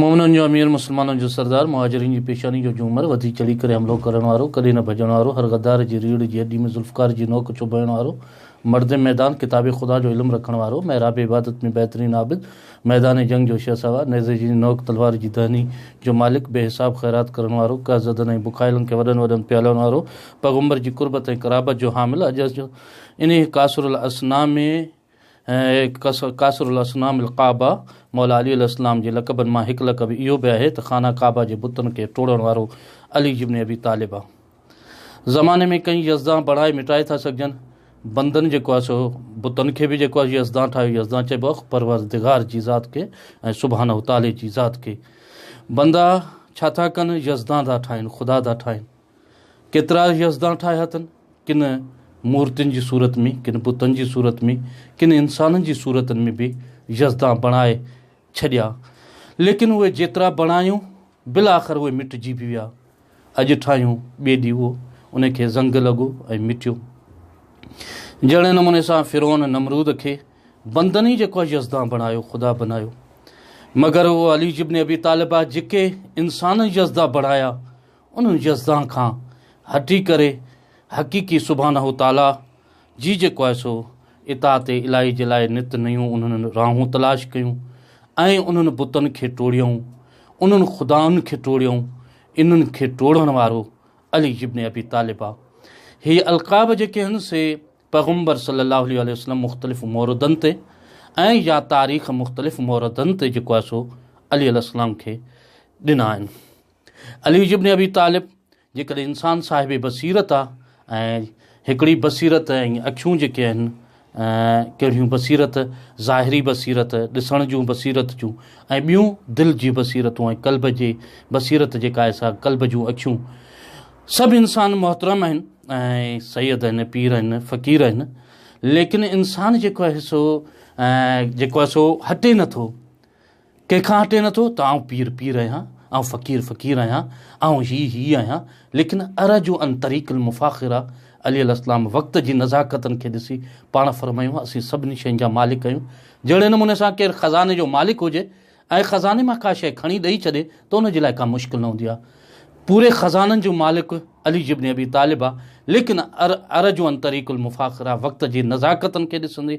مومنن جو امير، مسلمانن جو سردار، مهاجرين جي پيشاني جو جهومر، وڌي چڙهي ڪري حملو ڪرڻ وارو، ڪڏهن نه ڀڄڻ وارو، هر غدار جي ريڙهه جي هڏي ۾ ذوالفقار جي نوڪ چڀائڻ وارو، مرد ميدان، ڪتاب خدا جو علم رکڻ وارو، محراب عبادت ۾ بهترين عابد، ميدان جنگ جو شهسوار، نيزي جي نوڪ تلوار جي دهني جو مالڪ، بي حساب خيرات ڪرڻ وارو، قهر زدن ۽ بکايلن کي وڏن وڏن پيالن وارو، پيغمبر جي قربت ۽ قرابت جو حامل، اڄ انهيء ڪاسر الاثنيٰ ۾ هي قاصر الاصنام الڪعبه، مولا علي عليه السلام جي لقبن مان هڪ لقب اهو به آهي ته خانه ڪعبه جي بتن کي ٽوڙڻ وارو علي ابن ابي طالب آ. زماني ۾ ڪئين يزدان بڻائي مٽائي ٿا سگهجن. بندن جيڪو آهي سو بتن کي به جيڪو آهي يزدان ٺاهيو يزدان چئبو آ پروردگار جي ذات کي ۽ سبحانه تعالي جي ذات کي. بندا ڇا ٿا ڪن يزدان ٿا ٺاهين خدا ٿا ٺاهين. ڪيترائي يزدان ٺاهيا اٿن، ڪن مورتين جي صورت ۾، ڪن بتن جي صورت ۾، ڪن انسانن جي صورتن ۾ به يزدان بڻائي ڇڏيا، ليڪن اهي جيترا بڻايون، بالاخر اهي مٽجي به ويا. اڄ ٺاهيون، ٻئي ڏيهه ان کي زنگ لڳو ۽ مٽيو. جهڙي نموني سان فرعون نمرود کي بندن ئي جيڪو يزدان بڻايو، خدا بنايو. مگر علي جبن ابي طالب جيڪي انسانن يزدان بڻايا، ان يزدان کان هٽي ڪري حقيقي سبحانه وتعاليٰ جي جيڪو آهي سو اطاعت الاهي جي لاء نت نيون انهن راهون تلاش ڪيون ۽ انهن بتن کي ٽوڙيائون، انهن خدائن کي ٽوڙيائون، انهن کي ٽوڙڻ وارو علي ابن ابي طالب آ. هي القاب جيڪي آهن سي پيغمبر صلي الله عليه واٰله وسلم مختلف موردن تي ۽ يا تاريخ مختلف موردن تي جيڪو آهي سو علي عليه السلام کي ڏنا آهن. علي ابن ابي طالب، جيڪڏهن انسان صاحب بصيرت آ ۽ هڪڙي بصيرت ۽ اکيون جيڪي آهن ڪهڙيون بصيرت ظاهري بصيرت ڏسڻ جون بصيرت جون ۽ ٻيون دل جي بصيرتون ۽ قلب جي بصيرت جيڪا آهي سا قلب جون اکيون سڀ انسان محترم آهن ۽ سيد آهن پير آهن فقير آهن ليڪن انسان جيڪو آهي سو جيڪو آهي سو هٽي نٿو ڪنهن کان هٽي نه ٿو ته آئون پير پير آهيان، آئون فقير فقير آهيان، آئون هي هي آهيان، ليڪن ارجو ان طريق المفاخره عليه الاسلام وقت جي نزاڪتن کي ڏسي پاڻ فرمايو اسين سڀني شين جا مالڪ آهيون، جهڙي نموني سان ڪير خزاني جو مالڪ هجي ۽ خزاني مان ڪا شيء کڻي ڏئي ڇڏي ته ان جي لاء ڪا مشڪل نه هوندي آهي پوري خزانن جو مالڪ علي جبن ابي طالب آهي ليڪن ارجو ان طريق المفاخره وقت جي نزاڪتن کي ڏسندي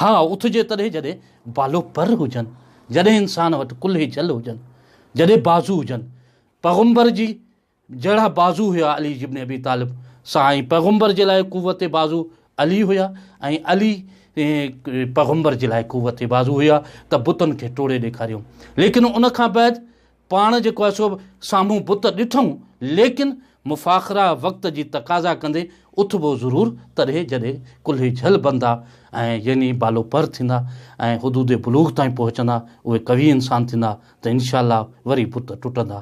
ها اٿجي تڏهن جڏهن بالو پر هجن، جڏهن انسان وٽ ڪلهي جل هجن، جڏهن بازو هجن. پيغمبر جي جهڙا بازو هيا علي ابن ابي طالب سان ۽ پيغمبر جي لاء قوت بازو علي هيا ۽ علي پيغمبر جي لاء قوت بازو هيا ته بتن کي ٽوڙي ڏيکاريو ليڪن ان کان بعد پاڻ جيڪو آهي سو به سامهون بت ڏٺئون، ليڪن مفاخره وقت جي تقاضا ڪندي اٿبو ضرور تڏهن جڏهن ڪلهي جهل بندا ۽ يعني بالو پر ٿيندا ۽ حدود بلوغ تائين پهچندا اهي قوي انسان ٿيندا ته ان شاء الله وري بت ٽٽندا.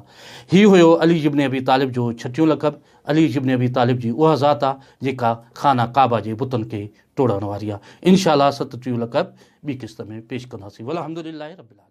هي هيو علي ابن ابي طالب جو ڇٽيون لقب. علي ابن ابي طالب جي اها ذات آ جيڪا خانه ڪعبه جي بتن کي ٽوڙڻ واري آ. ان شاء الله ستٽيهون لقب ٻي قسط ۾ پيش ڪنداسين والحمد لله رب العالمين.